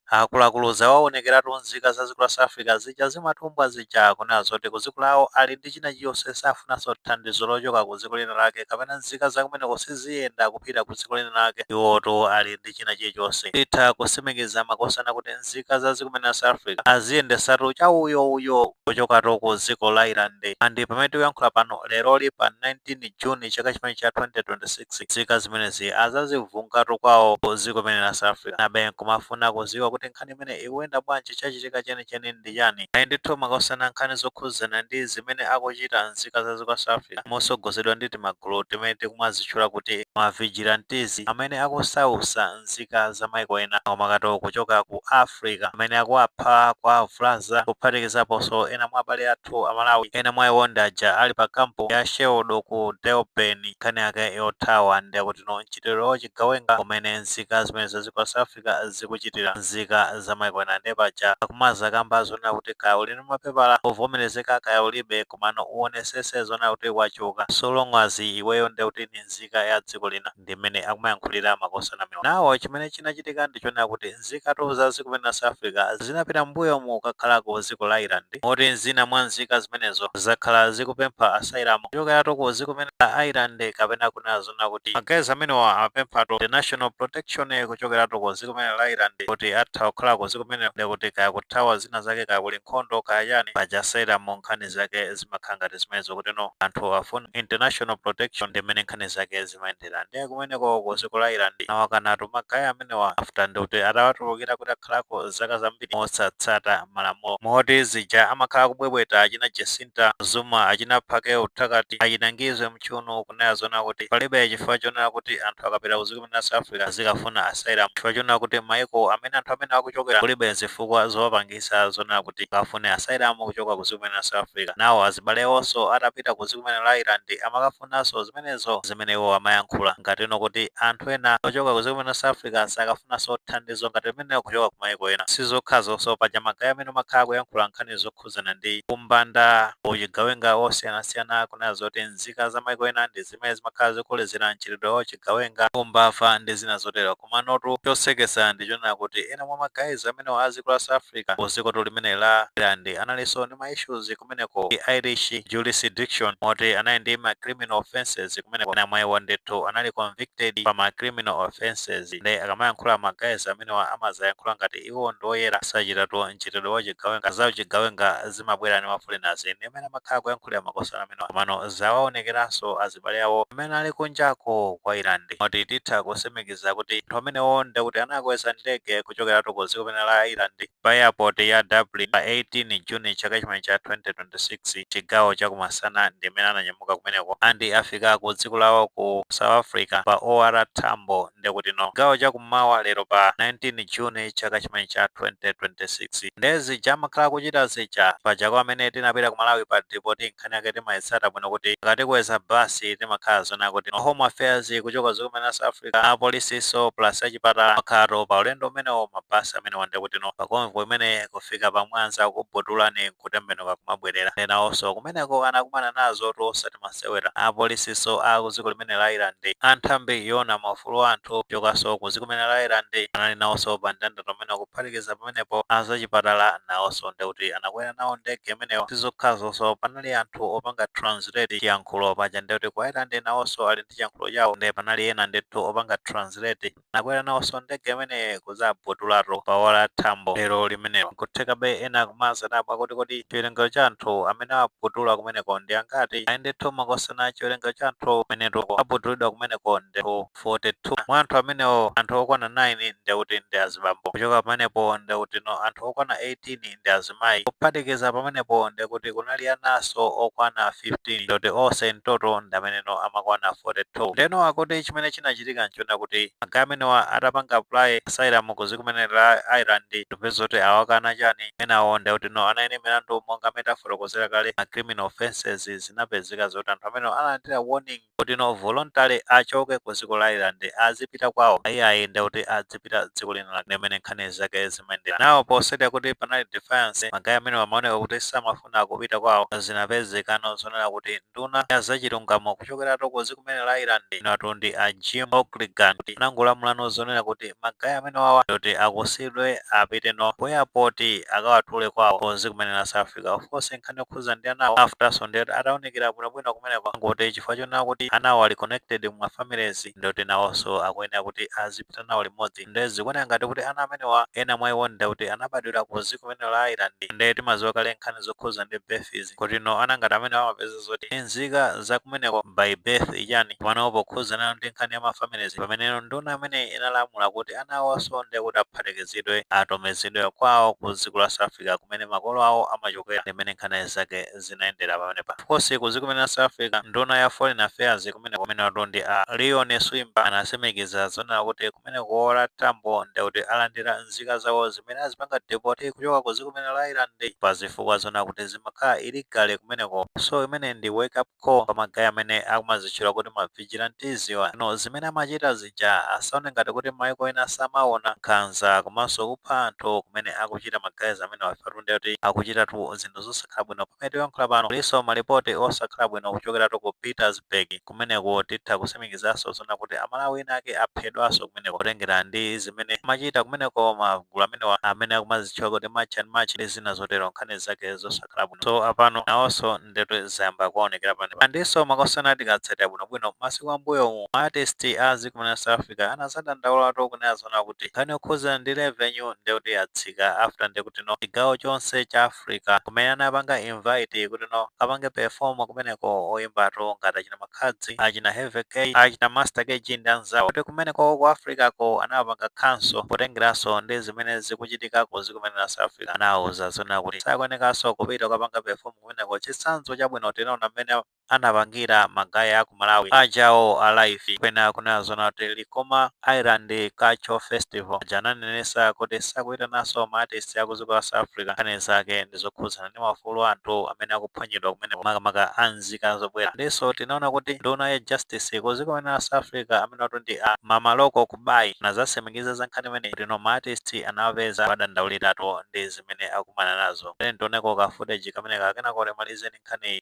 Akuluakulu zawaonekeratu nzika za dziko la South Africa zija zimatumbwa zija kunena zoti ku dziko lawo ali ndi china chilichonse safunanso thandizo lochoka ku dziko lina lake kapena nzika zakumeneko siziyenda kupita ku dziko lina lake iwotu ali ndi china chilichonse. Titha kusimikiza makosana kuti nzika za dziko limene la South Africa aziyendesatu chauyouyo kuchokatu ku dziko la Ireland and pamene tikuyankhula pano leroli pa 19 June chaka chimene cha 2026, Nzika zimenezi azazivungatu kwawo ku dziko limene la South Africa. Nabe nkumafuna kuziwa kuti nkhani imeneyi ikuyenda bwanji chachitika chenicheni ndi chani. Ayi ndithu makosana nkhani zokhudzana ndi zimene akuchita nzika za dziko la South Africa motsogozedwa ndi timagulu timene tikumazitchula kuti ma vigilantes amene akusausa nzika za maiko ena makamakatu kuchoka ku Af. Africa amene akuwapha, kuwavulaza kuphatikizaponso ena mwa abale athu a Malawi, ena mwa iwo ndi aja ali pa camp ya Sheldon ku Durban. Nkhani yake yothawa ndi yakuti no mchitidwe wa uchigawenga umene nzika zimenezi za dziko la South Africa zikuchitira nzika za maiko ena nde paja akumazakamba zonena kuti kaya uli ndi mapepala ovomerezeka kaya ulibe komano uonesese zonena kuti wachoka so long as iweyo nde kuti ndi nzika ya dziko lina. ndi mmene akumayankhulira makosana amenewa. Nawo chimene chinachitika ndi chonena kuti nzikatu za dziko limene la South Africa zinapita m'mbuyomu kukakhalako ku dziko la Ireland moti zina mwa nzika zimenezo zakhala zikupempha asylum kuchokeratu ku dziko limene la Ireland kapena kunena zonena kuti ma guys amenewa amapemphatu international protection kuchokeratu ku dziko limene la Ireland kuti atha kukhala ku dziko limenelo ndekuti kaya kuthawa zina zake kaya kuli nkhondo kaya chani paja asylum nkhani zake zimakhala ngati zimenezo kuti no anthu afuna international protection ndi mmene nkhani zake zimayendera ndiye kumeneko ku dziko la Ireland awakanatu ma guys amenewa after ndi kuti atawatulukira kuti akhalako zaka zambiri mosatsata malamulo moti zija amakhala akubwebweta achina Jacinta Zuma achina Phakel'umthakathi achina Ngizwe Mchunu kunena zonena kuti palibe chifukwa chonena kuti anthu akapita ku dziko limene la South Africa azikafuna asylum chifukwa chonena kuti maiko amene anthu amene akuchokera kulibe zifukwa zowapangira anapangisa zonena kuti akafune asylum kuchoka ku dziko limene la South Africa nawo azibale awonso atapita ku dziko limene la Ireland amakafunanso zimenezo zimene iwo amayankhula ngatino kuti anthu ena ochoka ku dziko limene la South Africa sakafunanso thandizo ngati limenelo kuchoka ku mayiko ena. Sizokhazonso, paja ma guys amenewa amakhala akuyankhula nkhani zokhudzana ndi umbanda, uchigawenga wosiyanasiyana kunena zoti nzika za mayiko ena ndi. zimene zimakhala zikolezera mchitidwe wa uchigawenga, umbava ndi zina zotero. Komanotu chosekesa ndi chonena kuti ena mwa ma guys amenewa a dziko la South Africa ku dzikotu limeneli la Ireland analinso ndi ma issues kumeneko ku Irish jurisdiction moti anali ndi ma criminal offences kumeneko. Ena mwa iwo ndithu anali convicted pa ma criminal offences nde akamayankhula ma guys amenewa amaziyankhula ngati iwo ndi oyera sachitatu mchitidwe wa uchigawenga, za uchigawenga, zimabwera ndi ma foreigners ndi amene amakhala kuyankhulira makosana amenewa komano zawaonekeranso azibale awo amene ali kunjako kwa Ireland moti titha kusimikiza kuti anthu amenewo ndekuti anakweza ndege kuchokeratu ku dziko limene la Ireland pa airport ya Dublin pa 18 June chaka chimene cha 2026 chigawo cha kumasana ndi amene ananyamuka kumeneko and afika ku dziko lawo ku South Africa pa OR Tambo nde kuti no chigawo cha kummawa lero pa 19 June chaka chimene cha 2026 nde zija amakhala akuchita zija paja kwa amene tinapita ku Malawi pa depoti nkhani yake timayitsata bwino kuti akatikweza basi timakhala zonena kuti no home affairs kuchoka dziko limene la South Africa apolisinso plus achipatala amakhalatu pa ulendo umenewo mabasi amenewa nde kuti no pa convoy imene kufika pa Mwanza kubotolani nkutembenuka kumabwerera nde nawonso kumeneko anakumana nazotu osati masewera. Apolisiso a ku dziko limene la Ireland, a nthambi yoona maufulu a anthu kuchokaso ku dziko limene la Ireland anali nawoso pa mndandanda umenewo kuphatikiza pamenepo a zachipatala nawoso ndekuti anakwera nawo ndege imeneyo. Sizokhazoso panali anthu opanga translate chiyankhulo paja ndekuti ku Ireland nawoso ali ndi chiyankhulo chawo nde panali ena ndithu opanga translate. Anakwera nawonso ndege imene kudzabotolatu pa OR Tambo lero limenelo. Nkuthekabe ena kumazadabwa kuti kodi chiwerengero cha anthu amene awabotula kumeneko ndi angati? Ayi ndithu, makosana chiwerengero cha anthu amenetu abotolidwa kumeneko ndekuti 42. Mwa anthu amenewo, anthu okwana 9 ndekuti ndi azibambo. Kuchoka pamenepo ndekuti no anthu okwana 18 ndi azimayi kuphatikiza pamenepo ndekuti kunali anaso okwana 15 ndoti ose in total ndameneno amakwana 42 ndeno akuti chimene chinachitika nchonena kuti magayi amenewa atapanga apply asylum ku dziko limene la Ireland ndikupeza zoti awakana chani enawo ndekuti no anali ndi milandu monga mene tafotokozera kale ma criminal offences zinapezeka zoti anthu amenewo analandira warning kuti no voluntary achoke ku dziko la Ireland azipita kwawo iyayi nde kuti adzipita dziko lina lake limene nkhani zake zimayendera nawo poti seti kuti panali defiance magayi amenewa amaoneka kuti samafuna kupita kwawo zinapezekano zonena kuti nduna ya zachilungamo kuchokeratu ku dziko limene la Ireland inatu ndi a Jim O'Callaghan kuti anangolamulano zonena kuti magayi amenewawa ndoti akusidwe apite no ku airport akawatule kwawo ku dziko limene la South Africa of course nkhani yokhuza ndi anawo afterso ndiyoti ataunikira bwinobwino kumeneko angoti chifukwa chonena kuti anawo ali connected mu mafamilies ndiyoti nawoso akuyenera kuti azipita nawo limodzi ndiye zikuoneka ngati kuti ana amenewa ena mwa iwo ndiyoti anabadwira ku dziko limene la Ireland ndiye timadziwa kale nkhani zokhuza ndi births kuti no ana ngati amene amapeza zoti nzika zakumeneko by birth chani pamano pokhuzanano ndi nkhani ya ma families pameneno nduna imeneyi inalamula kuti ana awoso ndekuti aphatikizidwe atumizidwe kwawo ku dziko la south africa kumene makolo awo amachokela ndi mmene nkhani zake zinayendela pamenepa of course ku dziko limene la south africa nduna ya foreign affairs kumeneko amenewatu ndi a leon schreiber anasimikiza zonena kuti kumene ku OR Tambo nde kuti alandira nzika zawo zimene azipanga deport kuchoka ku dziko limene la Ireland pa zifukwa zona kuti zimakhala illegal kumeneko so imeneyi ndi wake up call pa ma guy amene akumazitchula kuti ma vigilantes wa, no zimene amachita zija asaone ngati kuti maiko ena samaona, nkhanza komanso kupha anthu kumene akuchita ma guys amenewa ifetu nde kuti akuchitatu zinthu zosakhala bwino pamene tikuyankhula pano kulinso ma report osakhala bwino kuchokeratu ku Pietersburg. kumeneko titha kutsimikizanso zona kuti amalawi ena ake aphedwanso kumeneko potengera ndi zimene amachita kumeneko magulu amenewa amene akumazitchula kuti March and March ndi zina zotero nkhani zake zosakhala bwino so apano nawonso ndetu zayamba kuonekera panopa ndinso makosana tikatsatira bwinobwino masiku ambuyomu ma artist a dziko limene la south africa anazadandaulatu kunena zona kuti nkhani yokhudzana ndi revenue ndekuti yatsika after ndekutino chigawo chonse cha Africa kumene anapanga invite kuti no kapange perform kumeneko oyimbatu ngati achina Makhadzi, achina Heavy K, achina Master KG ndi anzawo kuti kumeneko ku Africa ko anapanga cancel potengeranso ndi zimene zikuchitika ku dziko limene la South Africa. Anawauza zona kuti sakuyenekanso kupita kukapanga perform kumeneko chitsanzo chabwino tinaona mmene anapangira magaye aku malawi ajawo a live kunena zona kuti likoma island cultural festival aja ananenetsa kuti sakuitananso ma artist aku dziko la south africa nkhani zake ndi zokhudzana ndi maufulu a anthu amene akuphwanyidwa kumeneko makamaka a nzika zobwera ndinso tinaona kuti nduna ya justice ku dziko limene la south africa amene watu ndi a Mmamoloko Kubayi anazatsimikiza za nkhani imeneyi kuti no ma artist anawapeza powadandauliratu ndi zimene akumana nazo tiyeni tioneko ka footage kameneka kenako timalize ndi nkhaniyi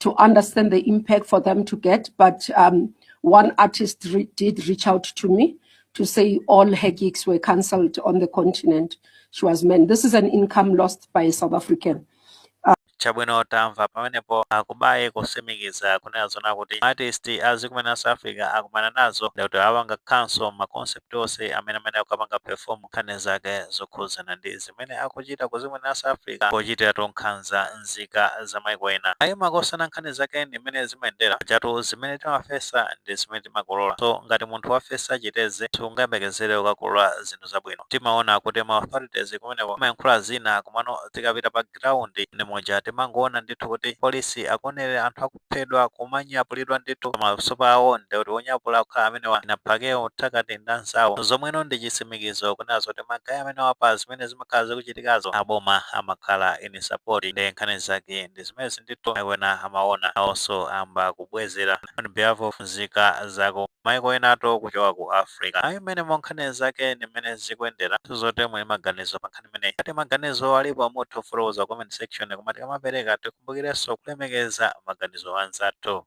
to understand the impact for them to get. But um, one artist re- did reach out to me to say all her gigs were cancelled on the continent. She was meant. This is an income lost by a South African. chabwino tamva pamenepo a Kubayi kutsimikiza kunena zona kuti artist a dziko limene la south africa akumana nazo ndekuti awapanga cancel maconcert onse amene amene amakapanga perform nkhani zake zokhudzana ndi zimene akuchita ku dziko limene la South Africa pochitiratu nkhanza nzika za maiko ena. Ayi makosana nkhani zake ndi mmene zimayendera. Pajatu zimene timafesa ndi zimene timakolola. So ngati munthu wafesa chitedze sungayembekezere kukakolola zinthu zabwino. Timaona kuti ma authorities kumeneko amayankhula zina komano tikapita pa ground ndi muja timangoona ndithu kuti polisi akuonerera anthu aku. kuphedwa kumanyapulidwa ndithu maso awo ndekuti wonyapula kukhala amenewa inapake wothakati ndanzawo zomweno ndi chitsimikizo kunena zoti magaye amenewa pa zimene zimakhala zikuchitikazo aboma amakhala in support nde nkhani zake ndi zimenezi ndithu maiko ena amaona nawonso ayamba kubwezera on behalf of nzika zaku maiko enatu kuchoka ku africa ayi mmenemo nkhani zake ndi mmene zikuyendera zoti muli maganizo pa nkhani imeneyi. Ngati maganizo alipo mutha kufotokoza comment section koma tikamapereka tikumbukirenso kulemekeza maganizo anzathu.